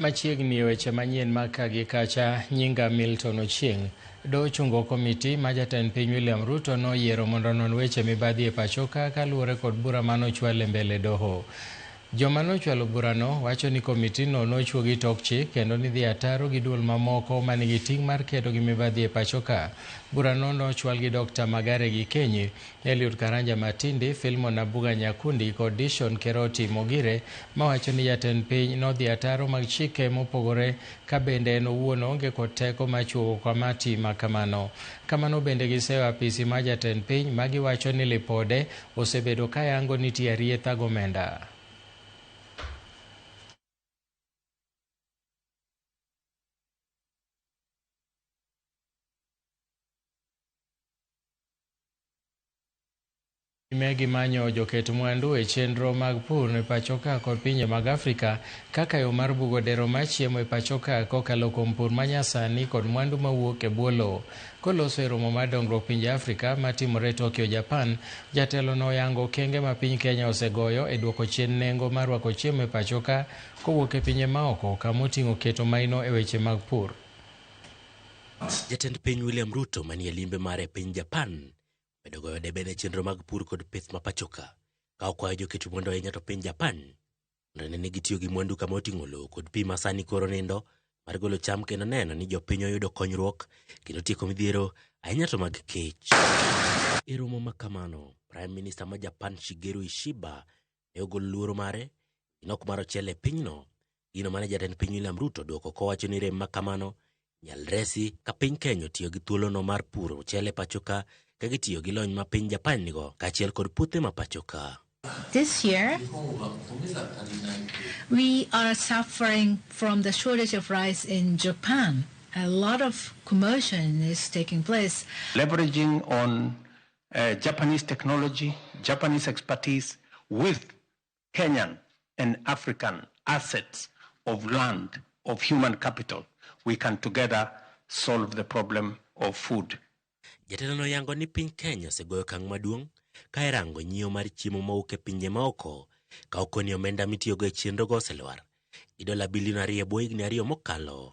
Machiegni weche manyien ma ka gi kacha nyinga Milton Ochieng. Do chungo komiti ma jatend piny William Ruto noyiero mondo non weche mibadhi e pachoka kaluwore kod bura ma nochwal e mbele doho. Joma nochwalo burano wacho ni komitino nochwo gi tok chik kendo ni dhi ataro gi duol mamoko ma nigi ting' mar kedo gi mibadhi e pachoka. Burano nochwal gi Dr. Magare Gikenyi Eliud Karanja Matindi, Filmon Nabuga Nyakundi kod Dishon Keroti Mogire mawacho ni jatend piny nodhi ataro mag chike mopogore ka bende en owuon oonge kod teko ma chuogo kamati ma kamano. Kamano bende giseyo apisi mar jatend piny ma giwacho ni lipode osebedo ka yango nitie arietha gomenda. Time gi manyo joket mwandu e chenro mag pur e pachoka kod pinje mag Afrika kaka yo mar bugo dero mar chiemo e pachoka kokalo kuom pur manyasani kod mwandu mawuok e bwo lowo. Koloso e romo mar dongruok pinje Afrika matimore Tokyo, Japan, jatelono oyango okenge ma piny Kenya osegoyo e duoko chien nengo mar rwako chiemo e pachoka kowuok e pinje maoko, kama oting'o keto maino e weche mag pur. Jatend piny William Ruto manie limbe mare e piny Japan medo goyo debe ne chenro mag pur kod pith ma pachoka ka okwayo joket mwandu ahinya to piny Japan nene ni gitiyo gi mwandu kama oting'o lowo kod pi ma sani koro nindo mar golo cham kendo neno ni jopiny oyudo konyruok kendo tieko midhiero ahinya to mag kech. E romo ma kamano, Prime Minister ma Japan Shigeru Ishiba ne ogolo luoro mare gino ok mar ochele e pinyno gino mane jatend piny William Ruto dwoko kowacho ni rem ma kamano nyal resi ka piny Kenya otiyo gi thuolono mar puro ochele pachoka ka gitiyo gi lony ma piny Japan nigo kaachiel kod puothe ma pachoka. This year, we are suffering from the shortage of rice in Japan. A lot of commotion is taking place. Leveraging on uh, Japanese technology, Japanese expertise with Kenyan and African assets of land, of human capital, we can together solve the problem of food. Jatelo no yango ni piny Kenya osegoyo kang' maduong' ka irango nyiewo mar chiemo mowuok e pinje maoko ka okoni omenda mitiyogo e chenrogo oselwar gi dola bilion ariyo e bwo higni ariyo mokalo.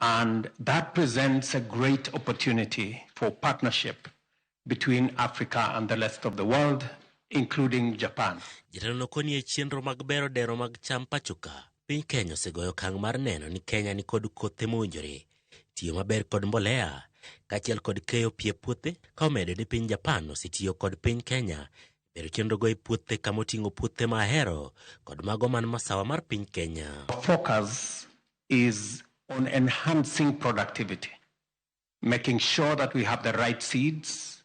And that presents a great opportunity for partnership between Africa and the rest of the world, including Japan. Jatelo nokoni e chenro mag bero dero mag cham pachoka. Piny Kenya osegoyo okang' mar neno ni Kenya ni kod kothe mowinjore, tiyo maber kod mbolea, kaachiel kod keyo pie puothe, ka omedo ni piny Japan osetiyo kod piny Kenya bero chenrogo e puothe kama oting'o puothe ma ahero kod mago man masawa mar piny Kenya. Focus is on enhancing productivity, making sure that we have the right seeds,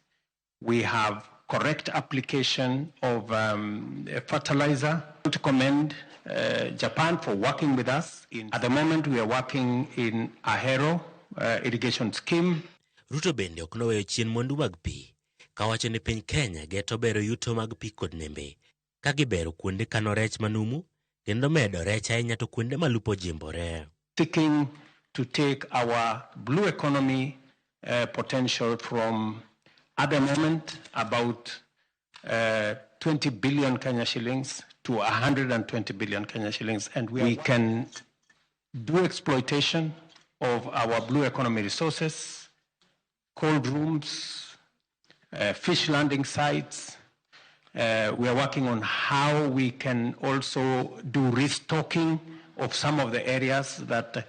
we have correct application of um, fertilizer. To commend uh, Japan for working with us. In, at the moment, we are working in Ahero uh, irrigation scheme. Ruto bende ok noweyo chien mwandu mag pi kawacho ni piny Kenya geto bero yuto mag pi kod nembe ka gibero kuonde kano rech manumu kendo medo rech ahinya to kuonde ma lupo jimbore. seeking to take our blue economy uh, potential from at the moment about uh, 20 billion Kenya shillings to 120 billion Kenya shillings and we, we can do exploitation of our blue economy resources cold rooms, uh, fish landing sites. Uh, we are working on how we can also do restocking of some of the areas that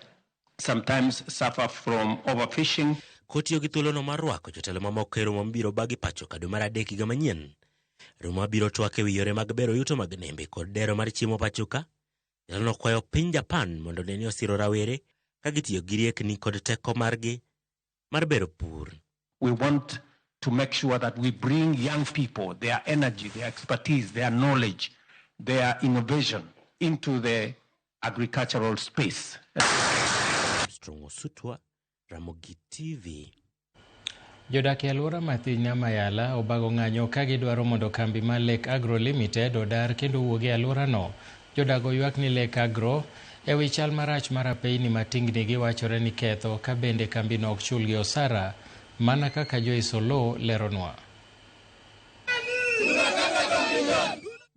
sometimes suffer from overfishing. Kotiyo gi thuolono mar rwako jotelo mamoko e romo mabiro bagi pacho ka dwe mar adek higa manyien. Romo mabiro twak e wi yore mag bero yuto mag nembe kod dero mar chiemo pachoka. Jatelono kwayo piny Japan mondo ne ni osiro rawere ka gitiyo gi riekni kod teko margi mar bero pur. We want to make sure that we bring young people, their energy, their expertise, their knowledge, their innovation into the agricultural space. Strong Osutwa, Ramogi TV. Jodak e alwora ma Thinya Mayala obago ng'anyo ka gidwaro mondo kambi mar Lake Agro Limited odar kendo owuog e alworano. Jodago ywak ni Lake Agro e wi chal marach mar apeyini ma tingni gi wachore ni ketho ka bende kambino ok chulgi osara mana kaka Joyce Oloo leronwa.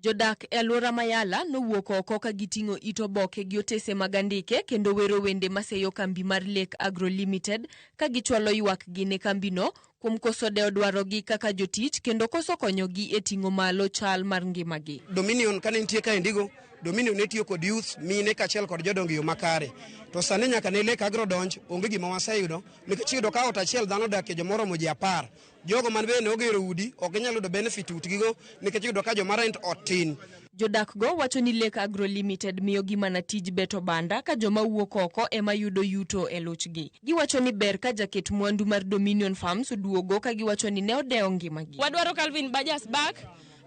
Jodak e alwora ma Yala nowuok oko ka giting'o it oboke gi otese mag andike kendo wero wende maseyo kambi mar Lake Agro Limited ka gichwalo ywakgi ne kambino kuom koso dewo dwarogi kaka jotich kendo koso konyogi e ting'o malo chal mar ngimagi. Dominion kane nitie kaendigo, Dominion ne tiyo kod youth, mine kaachiel kod jodongo e yo makare. To sani nyaka ne lek agro donj, onge gima waseyudo nikech iyudo ka ot achiel dhano odakie joma oromo ji apar. Jogo man bende ne ogero udi, ok ginyal yudo benefit utgigo nikech iyudo ka joma rent ot tin. Jodakgo wacho ni Lake Agro Limited miyogi mana tij beto banda ka joma wuok oko ema yudo yuto e luchgi. Giwacho ni ber ka jaket mwandu mar Dominion Farms duogo ka giwacho ni ne odewo ngimagi. Wadwaro Calvin Bajas back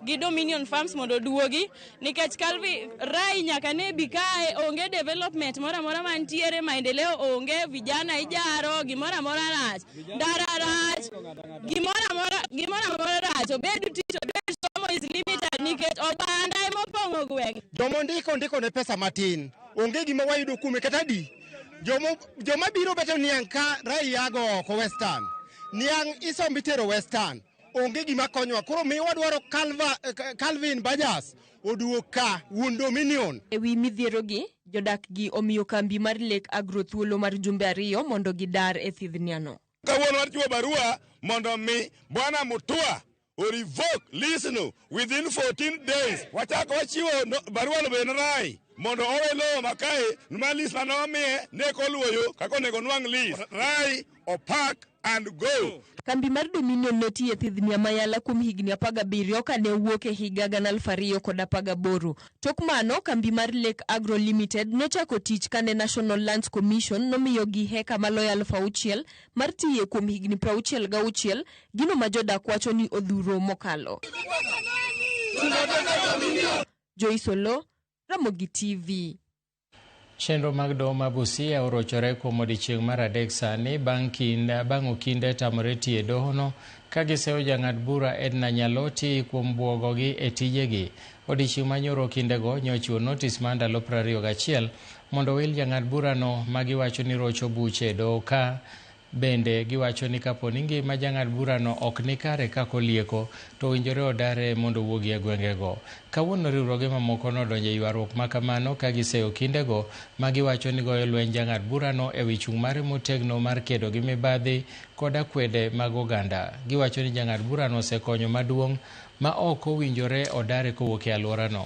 gi Dominion Farms mondo duogi nikech Calvin Rai nyaka ne bi kae onge development moro amora mantiere, maendeleo onge, vijana ijaro, gimoro amora rach. ndara rach, gimoro amora gimoro amora rach, obed tich, obed somo is limited nikech oganda ema opong'o gweng'. Joma ondiko ndiko ne pesa matin, onge gima wayudo kuome kata di. Joma joma biro beto niang' ka raia go oko western. Niang' isombi tero western. onge gima konyowa koro mi wadwaro Calva- eh, Calvin Bajas oduog ka wuon Dominion E wi midhierogi, jodakgi omiyo kambi mar Lake Agro thuolo mar jumbe ariyo mondo gidar e thidhniano. kawuono wachiwo barua mondo mi bwana mutua o revoke lease no within 14 days wachako wachiwo no- barua no bende rai mondo owe lowo makae ma lease mane wamiye ne koluoyo kaka onego onwang' lease rai opak and go. Kambi mar Dominion ne tiyo e thidhni Amayala kuom higni apar gabiriyo ka ne owuok e higa gana aluf ariyo kod apar gaboro. Tok mano, kambi mar Lake Agro Limited nochako tich kane National Lands Commission nomiyogi heka maloyo aluf auchiel mar tiye kuom higni prauchiel gauchiel, gino ma jodak wacho ni odhuro mokalo. Joyce Oloo, Ramogi TV. Chenro mag doho ma Busia orochore kuom odiechieng' mar adek sani bang' kinda bang' Okinde tamore tiyo e dohono ka giseyo jang'ad bura Edna Nyaloti kuom bwogogi e tijegi. Odiechieng' ma nyoro Okindego nyo ochiwo notis mar ndalo 21 mondo owil jang'ad burano ma giwacho ni rocho buche e doho ka Bende, giwacho ni kapo ni ngima jang'ad burano ok ni kare ka kolieko, to owinjore odare mondo owuogi e gwengego. Kawuono riwruoge mamoko nodonjo e ywaruok ma kamano ka giseyo kindego ma giwacho ni goyo lweny jang'ad burano e wi chung' mare motegno mar kedo gi mibadhi kod akwede mag oganda. Giwacho ni jang'ad burano osekonyo maduong' ma ok owinjore odare kowuok e alworano.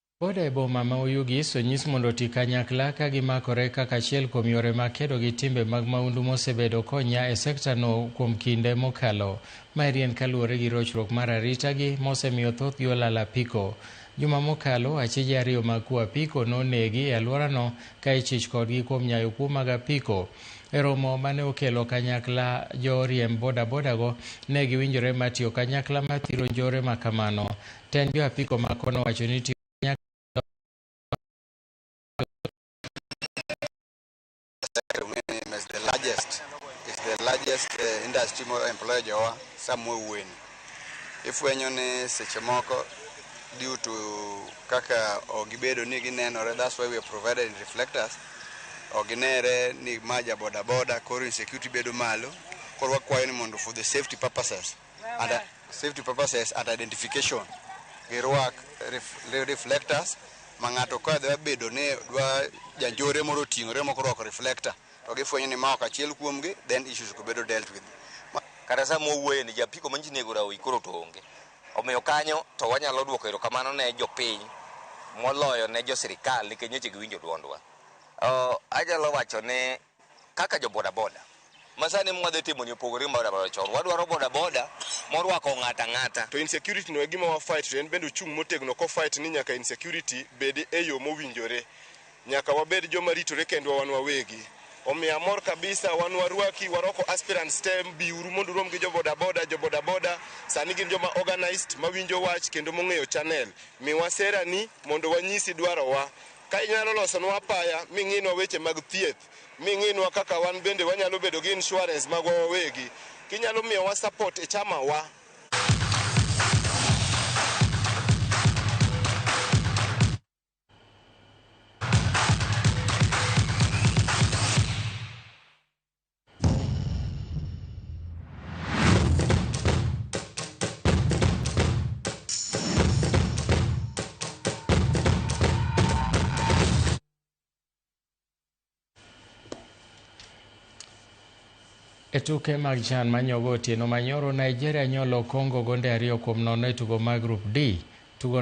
Boda e boma ma Oyugis onyis mondo oti kanyakla ka gimakore kaka achiel kuom yore mag kedo gi timbe mag maundu mosebedo konya e sekta no kuom kinde mokalo. Maeri en kaluwore gi rochruok mar arita gi mosemiyo thothgi olal apiko. Juma mokalo, achije ariyo mag kuo apiko nonegi e alworano ka ichich kodgi kuom nyayo kuo mag apiko. E romo mane okelo kanyakla jo riemb bodabodago, ne giwinjore mar tiyo kanyakla mar thiro njore makamano. Tend jo apiko ma kono wacho ni tiyo the largest is the largest uh, industry mo employ jowa somewhere when ifwenyo ni seche moko due to kaka ogibedo ni ginenore that's why we are provided in reflectors oginere ni maja boda boda koro insecurity bedo malo koro wakwayo ni mondo for the safety purposes and uh, safety purposes and identification girwak ref, re- reflectors ma ng'ato ka dwa bedo ni dwa janjore moro oting'ore moko orwako reflector to gifwenyo ni ma ok achiel kuomgi then issues go bedo dealt with Ma- kata sama wawuoye ni japiko manyiso ni egora oyi koro to onge omiyo kanyo to wanyalo dwoko erokamano ne jopiny moloyo ne jo sirikal nikech nyoche giwinjo dwondwa Oh, anyalo wacho ne Kaka jo boda boda masani mwa dhi timo ni opogore gi boda boda chon. Wadwaro boda boda morwako ng'ata ng'ata. To insecurity no e gima wa fight to en bende ochung' motegno ko fight ni nyaka insecurity bedi e yo mowinjore. Nyaka wabed joma ritore kendwa wan wawegi. Omiyo amor kabisa wan warwaki warwako aspirant stem bi uru mondo urom gi jo boda boda. Jo boda boda sani gin joma organized mawinjo wach kendo mong'eyo channel. Miwa sera ni mondo wanyisi dwaro wa. Ka inyalo losonwa apaya ming'inwa weche mag thieth, ming'inwa kaka wan bende wanyalo bedo gi insurance magwa wawegi, kinyalo miyowa support e chama wa. E tuke mag chan manyogo otieno manyoro, Nigeria nyolo Congo gonde ariyo kuom nono e tugo mar Group D. Tugo